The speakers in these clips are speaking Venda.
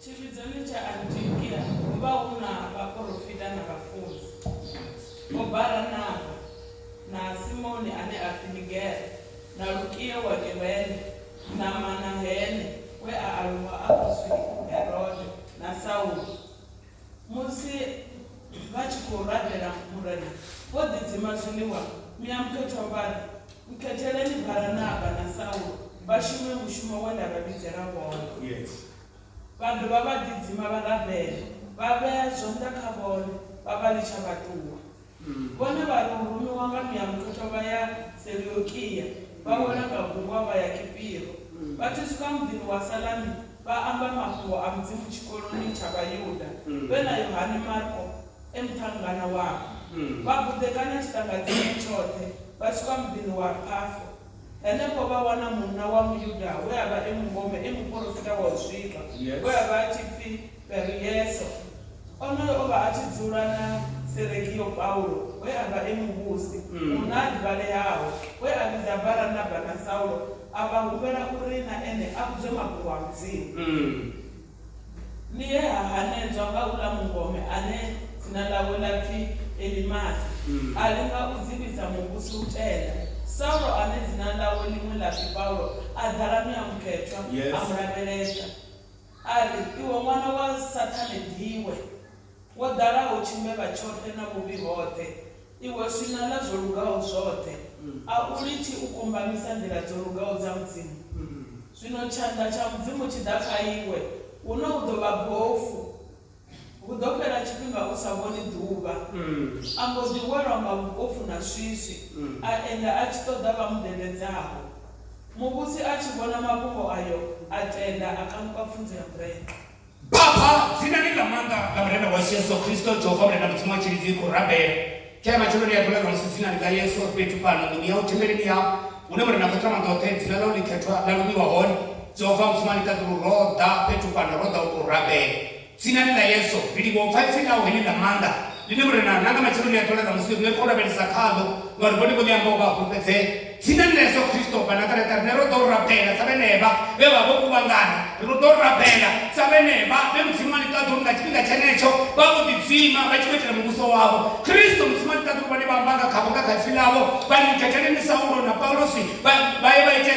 Tshivhidzoni tsha Antiokia ho vha hu na vhaporofita na vhafunzi, Vho Baranaba, na Simoni ane a pfi Nigere, na Lukio wa Kirene, na Manahene we a aluwa a khou zwi Herode, na Saulo. Musi vha tshi khou rabela Murena, vho ḓidzima zwiḽiwa miamphetho vha ri, Nkhetheleni Baranaba na Saulo vha shume mushumo we nda vha vhidzela wone. vha dovha vha ḓidzima vha rabela, vha vhea zwanḓa kha vhone, vha vha litsha vha ṱuwa. Vhone vha ri u rumiwa nga Muya Mukhethwa vha ya Seleukia, vha wela nga gungwa vha ya Kipiro. Vha tshi swika muḓini wa Salami, vha amba mafhungo a Mudzimu tshikoloni tsha Vhayuda, vhe na Yohane Marko e muṱhannganwa wavho. Vha buḓekanya tshiṱangadzime tshoṱhe vha swika muḓini wa Pafo. Henefho vha wana munna wa Muyuda we a vha e mungome e muporofita wa u zwifha we a vha a tshi pfi Perieso. Onoyo o vha a tshi dzula na Seregio Paulo we a vha e muvhusi, munna a ḓivhaleaho we a vhidza Baranaba na Saulo a vha humbela uri na ene a vhudzwe mafhungo a Mudzimu. Ni he ha hanedzwa nga uḽa mungome ane dzina ḽawe ḽa pfi Elimasi, a linga u dzivhisa muvhusi u tenda. Saulo ane dzina ḽawe ḽiṅwe ḽa pfi Paulo a ḓala muyamukhethwa a mu lavhelesa, a ri, Iwe ṅwana wa Saṱhane, diiwe! Wo ḓalaho tshimevha tshoṱhe na vhuvhi hoṱhe, iwe swina ḽa zwo lugaho zwoṱhe, a u litshi u kumbamisa nḓila dzo lugaho dza Mudzimu? Zwino tshanḓa tsha Mudzimu tshi ḓa kha iwe, huno u ḓo vha bofu, hu ḓo fhela tshifhinga u sa vhoni ḓuvha. A mbo ḓi welwa nga vhupofu na swiswi, a enda a tshi ṱoḓa vha mu dededzaho. Muvhusi a tshi vhona mafhungo ayo, a tenda, a kanuka pfunzo ya murena. Baba, dzinani ḽa maanḓa ḽa Murena washu Yesu Kristo, Jehova Murena Mudzimu wa tshilidzi, ri khou rabela. Kha matsheloni a ḓuvha ṋamusi, dzinani ḽa Yesu, ri fhethu fhano nḓuni yau thembeleni yau, hune Murena a khou ṱhama nḓoṱhe, dzina ḽau ḽikhethwa ḽa lumiwa hone. Jehova Mudzimu a ḽiṱaḓulu, ro ḓa fhethu fhano, ro ḓa u tou rabela. Dzinani ḽa Yesu, ri livhuwa u pfa ipfi ḽau heḽi ḽa maanḓa, ḽine Murena, nanga matsheloni a ḓuvha ḽa ṋamusi, riṋe ri khou lavhelesa khaḽo, ngauri vhone vho ḽi amba u vha a fhulufhedzea. Tsini na Yesu Kristo wa Nazareta, riṋe ro ḓo rabela sa vhenevha vhe vha vha vho kuvhangana. Ri khou ḓo rabela sa vhenevha vhe Mudzimu wa ḽiṱaḓulu nga tshifhinga tshenetsho vha vho ḓidzima vha tshi khou itela muvhuso wavho. Kristo, Mudzimu wa ḽiṱaḓulu, vhone vha amba nga khavho nga kha Ipfi ḽavho, vha ḽi gethele ni Saulo na Paulusi vha, vha ye vha ite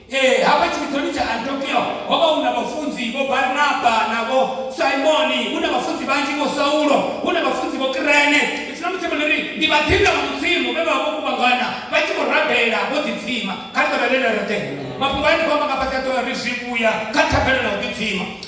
Ee, hafha tshivhidzoni tsha Antiokia ho vha hu na vhafunzi vho Barnaba na vho Simoni, hu na vhafunzi vhanzhi vho Saulo, hu na vhafunzi vho Kirene. Zwino musi vho no ri ndi vhaḓinḓa vha Mudzimu vhe vha vha vho kuvhangana vha tshi khou rabela vho ḓidzima, kha ri ṱolelela roṱhe mafhungo ane nda khou amba nga fhasi a ḓo ri zwivhuya kha thabelo na u ḓidzima.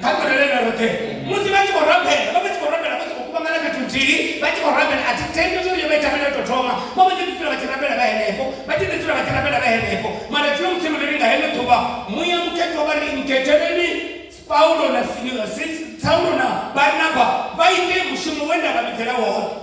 kha ṱolele na roṱhe musi vha tshi khou rabela vha vha tshi khou rabela vha tshi khou kuvhangana fhethu nthihi vha tshi khou rabela a thi tendi zwo ri yo vha ithabela to thoma vha vha tshi dzula vha tshi rabela vha henefho vha tshi dzula vha tshi rabela vha henefho mara tshiyo musi ri ri nga heno ḓuvha muya mukhetho vha ri nkhetheleni paulo na saulo na barnaba vha ite mushumo we nda vha vhidzela wone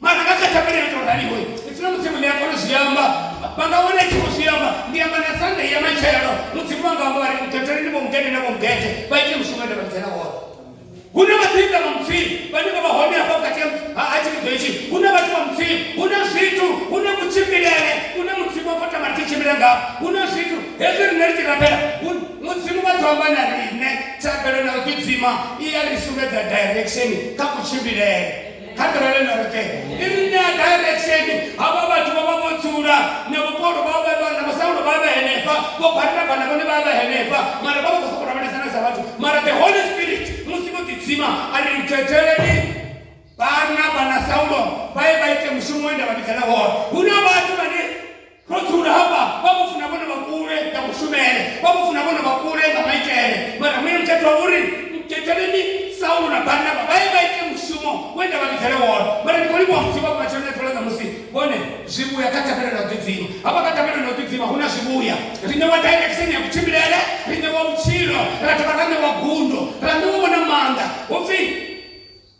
mara nga kha thabelelo tou raliho ipfuna mudzimu ḽi a kona zwi amba vha nga wana tshi khou zwi amba ndi amba na sande ya matshelo mudzimu wanga amba vhari ntetheleni vho mugede na vho mugede vha ite mushumo ende vha lidzela woṱhe hu na vhaḓinda vha mudzimu vhane vha vha hone hafho vhukati ha tshivhidzo hetshi hu na vhathu vha mudzimu hu na zwithu hu na kutshimbilele hu na mudzimu wa fota mari tshi tshimbila ngao hu na zwithu hezwi rine ri tshi rabela mudzimu vha ḓo amba na rine thabelo na u ḓidzima i ya ri sumbedza direction kha kutshimbilele kha ḓirele na roṱhe i ri ṋea direction havha vhathu vha vha vho dzula na vhupolo vha vha vha na vhasaulo vha vha henefha vho barinaba na vhone vha vha henefha mara vha vha khou sokou lavhelesana sa vhathu mara the holy spirit musi vho ḓidzima a ri khetheleni barinaba na saulo vha ye vha ite mushumo we nda vha vhidzela wone hu na vhathu vhane Ro dzula hafha, vha mu funa vhone vha kule nga kushumele, vha mu funa vhone vha kule nga maitele. Mara muya mutsha ṱwa uri, Nkhetheleni Saulo na Barnaba vha ye vha ite mushumo we nda vha vhidzele wone. Mara ndi khou livhuwa Mudzimu hafha matsheloni a ḓuvha ḽa ṋamusi, vhone zwivhuya kha Ṱhanganelano ya u Ḓidzima. Hafha kha Ṱhanganelano ya u Ḓidzima hu na zwivhuya. Ri ṋewa direction ya kutshimbilele, ri ṋewa vhutshilo, ra dovha ra ṋewa gundo, ra ṋewa vho na maanḓa. Hu pfi.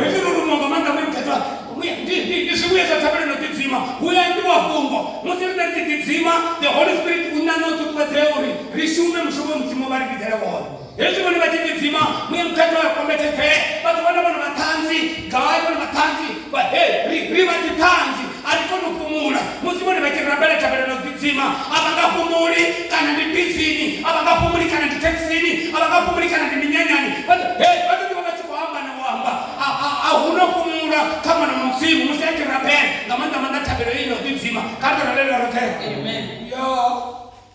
hezwi uri munga maanḓa mu ḓedzwa ndi zwivhuye zwa thabelo no ḓidzima hu ya ambiwa fhungo musi riṋe ri tshi ḓidzima the holy spirit u ṋaṋa u ṱuṱuwedzea uri ri shume mushumo we mudzimu vha ri vhidzele wone hezwi vhone vha tshi ḓidzima muya mukhethwa ya kombetshedzee vha ḓo vhona vhone vhaṱhanzi gai vhone vhaṱhanzi Vha he, ri, ri vha dziṱhanzi, a ri koni u fhumula. Musi vhone vha tshi rabela thabelo na u ḓidzima, a vha nga fhumuli, kana ndi bisini, a vha nga fhumuli, kana ndi thekhisini, a vha nga fhumuli, kana ndi minyanyani, vha ḓo, he, vha ḓo ḓi vha vha tshi khou amba na u amba. A, a, a hu na u fhumula kha Ṅwana wa Mudzimu musi a tshi rabela, nga maanḓa-maanḓa thabelo heyi na u ḓidzima. Kha ri tou rabelela roṱhe. Yoo!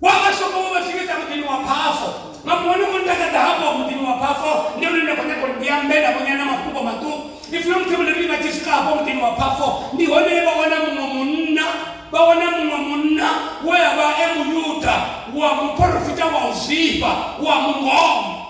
wa mashopho vho vha swikisa muḓini wa phafo nga muṅwe no ntakadza hafho wa muḓini wa phafo ndi hone nda khou nyanga uri ndi ambe na vhonyana mafhungo maṱuku if long table ri vha tshi swika hafho muḓini wa phafo ndi hone he vha wana muṅwe munna vha wana muṅwe munna we a vha e muyuda wa muporofita wa u zwifha wa mungomo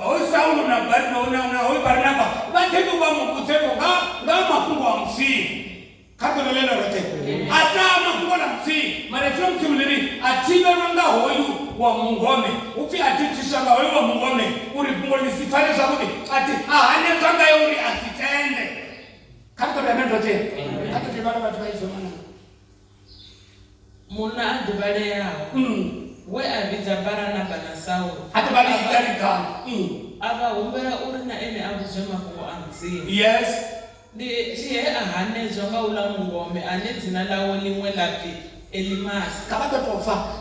Hoyu Saulo na Barnaba na, na hoyu Barnaba vha ḓi tou vha muvhudzevho nga nga ha mafhungo a Mudzimu kha ḓuvha ḽe ḽo roṱhe a taa mafhungo ḽa Mudzimu mara dzina Mudzimu ḽi ri a thivhelwa nga hoyu wa mungome hu pfi a thithiswa nga hoyu wa mungome uri fhungo ḽi si pfale zwavhuḓi a thi a hanedzwa ngayo uri a si tende kha ri ḓo ri amen roṱhe kha ḓo ḓi vhala vhathu vha idzo manana Munna a ḓivhaleaho we a vhidza Baranaba na Saulu a dovha a ḽi ita ḽigalu. A vha humbela uri na ene a vhudzwe mafhungo a Mudzimu. Yes. Ndi he a hanedzwa nga uḽa mungome ane dzina ḽawe ḽiṅwe ḽa pfi Elimasi. Kha vha ḓo tou fa.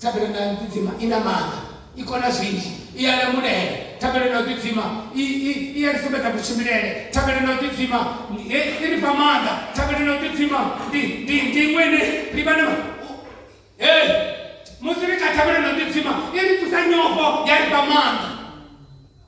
Thabelo na ḓidzima i na maanḓa, i kona zwinzhi, i a lamulela. Thabelo na ḓidzima i, i, i a ri sumbedza kutshimbilele. Thabelo na ḓidzima i, i ri fha maanḓa. Thabelo na ḓidzima ndi, ndi, ndi iṅwe ine ri vha na hey, musi ri kha thabelo na ḓidzima i ri thusa nyofho ya ri fha maanḓa.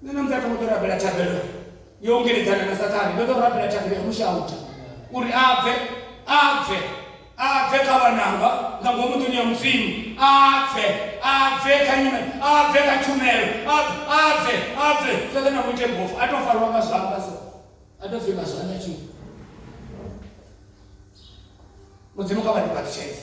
Nṋe na muthu a ṱo rabela thabelo yo ungeledzana na sathane ndo ḓo rabela thabelo ya mushauta uri a bve a bve a bve kha vhananga nga ngomu nḓuni ya mudzimu a bve a bve kha nyume a bve kha tshumelo a bve a bve sathane a muite mbofu a to farwa nga zwanḓa so a to pfi nga zwanḓa tshini mudzimu kha vha ndi phaṱutshedze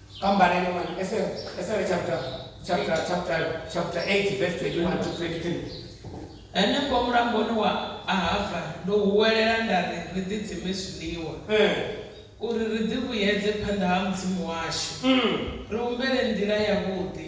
pambanani mwana esere esere chapter chapter chapter chapter 8 verse 21 to 23 Henefho mulamboni wa Ahava ndo huwelela nda ri ri ḓidzime zwiḽiwa eh uri ri ḓivhuyedze phanḓa ha Mudzimu washu, mm. ri humbele nḓila yavhuḓi.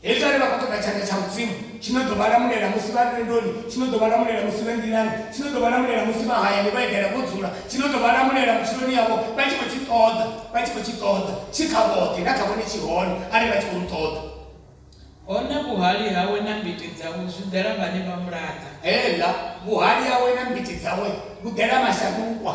Hezwi ane vha khou ṱoḓa tshanḓa tsha Mudzimu, tshi ḓo vha lamulela musi vha lwendoni, tshi ḓo vha lamulela musi vhe nḓilani, tshi ḓo vha lamulela musi vha hayani vho eḓela vho dzula, tshi ḓo vha lamulela vhutshiloni havho vha tshi khou tshi ṱoḓa, vha tshi khou tshi ṱoḓa tshi kha vhoṱhe, na kha vhone tshi hone arali vha tshi khou mu ṱoḓa. Hone vhuhali hawe na mbiti dzawe zwi ḓela vhane vha mu laṱa. Heḽa, vhuhali hawe na mbiti dzawe vhu ḓela mashakukwa.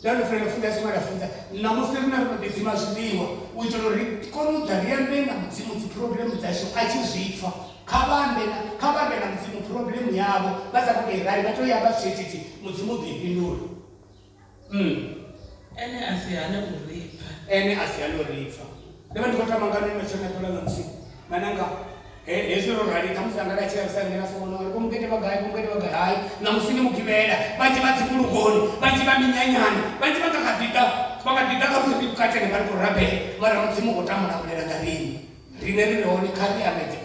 Nda ri fela funza tshiṅwe nda funza ṋamusi ri na ri khou ḓidzima zwiḽiwa u itela uri ri kone u ḓa ri ambe na mudzimu dzi phuroblemu dzashu a tshi zwi pfa kha vha ambe na kha vha ambe na mudzimu phuroblemu yavho vha sa khou tou i rali vha tou i amba zwithithi mudzimu u ḓo i fhindula mm. ene a si hane u ri pfa. ene a si hane u ri pfa. Ndo vha ndi khou tama ngani matshelo na ṱola ṋamusi na nanga hezwi ro rali khamusi anga nda tshea vhusani na sokono ri komukete vha gai komukete vha gai hai ṋamusi ndi mugivhela vhanzhi vha dzivhulungoni vhanzhi vha minyanyani vhanzhi vha nga kha ḓiḓa vha nga ḓiḓa khamusi ndi vhukatene vha ri khou rabela mara mudzimu u khou tama u lamulela nga riṋe riṋe ri re hone kha ri amedze